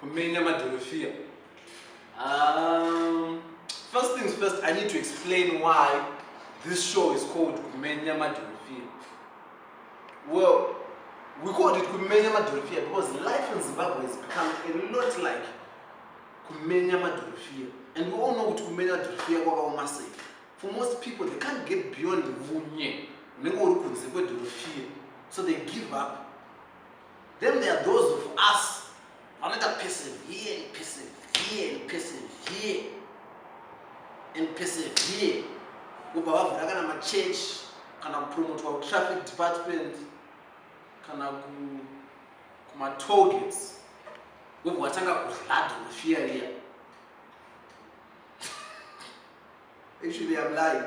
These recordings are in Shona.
Kumenya madhorofiya. Um, first things first, I need to explain why this show is called Kumenya Madhorofiya. Well, we called it Kumenya Madhorofiya because life in Zimbabwe has become a lot like Kumenya Madhorofiya. And we all know what Kumenya Madhorofiya kwakaoma sei. For most people, they can't get beyond Vunye. Unenge uri kunze kwedhorofiya. So they give up Then there are those of us vanoita persevere and persevere and persevere and persevere kubva vavhura kana machurch kana kupromotwa kutraffic department kana kumatargets wobva watanga kuzlada nefear riya Actually, I'm lying.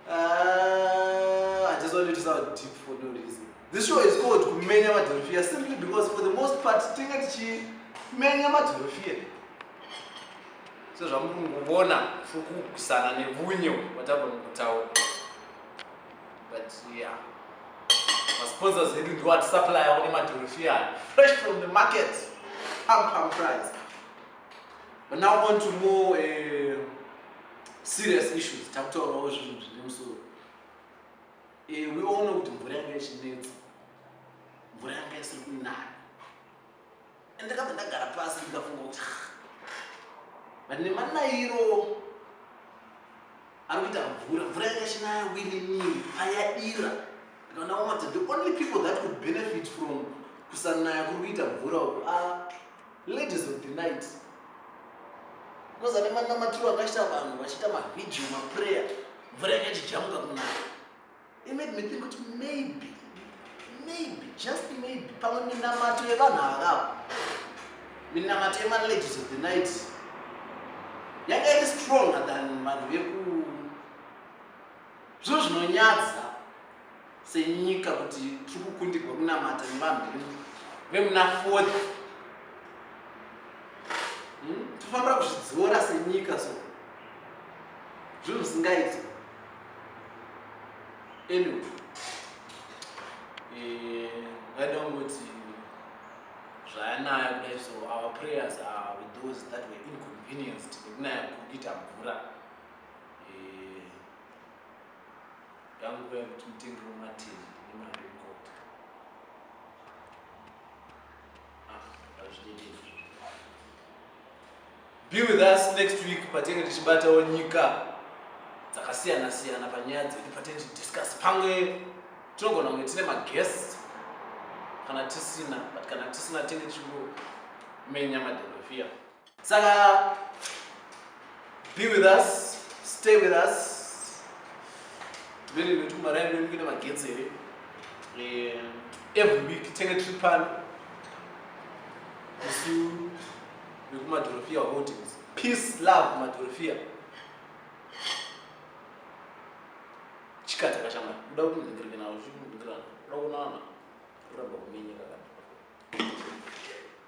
Uh, I just wanted to sound deep for no reason. This show is called Kumenya Madhorofia simply because for the most part, tinga tichimenya madhorofia. So zvamuri kungobona fukukusana nevunyo vatava mukutaura. But yeah. Masponsors edu ndiwo atisupplyawo nemadhorofia fresh from the market. Pam pam price. But now on to more uh, serious issues. Takutaurawo zvinhu zvine musoro. Eh, we all know kuti mvura yanga ichinetsa. Mvura yanga isiri kunaya. And ndakabva ndagara pasi ndikafunga kuti but nemanayiro ari kuita mvura mvura yanga ichinaya wininii payadira ndikaona wamati the only people that could benefit from kusanaya kuri kuita mvura uku a ah, Ladies of the night. Because ane manamatiro akaita vanhu vachiita mavideo maprayer mvura yakachijamuka kunaya. It made me think kuti maybe maybe just maybe pamwe minamato yevanhu avavo minamato yemaladies of the night yanga iri stronger than vanhu veku zvinhu zvinonyadza senyika kuti tiri kukundirwa kunamata nevanhu vemuna fourth hmm? tofanira kuzvidzora senyika so zvinhu zvisingaiti anyway eh, vaida kungoti zvayanaya kudai so our prayers are with those that were inconvenienced nekunaya kukita mvura Yangu nguva yekuti mutengero matiri nemari yekukota. Ah, Be with us next week patinenge tichibatawo nyika dzakasiyana siyana panyaya dzedu patinenge tichidiscuss pamwe tinogona kunge tine maguest kana tisina but kana tisina tinenge tichimenya madherofiya saka be with us stay with us vele nekuti kumaraini kwedu kuine magetsi here eh, every week tenge tiri pano isu vekumadhorofia holdings peace love madhorofia chikataka chama uda kundingereke nawo zvikundirana uda kunana uramba kuminyika kana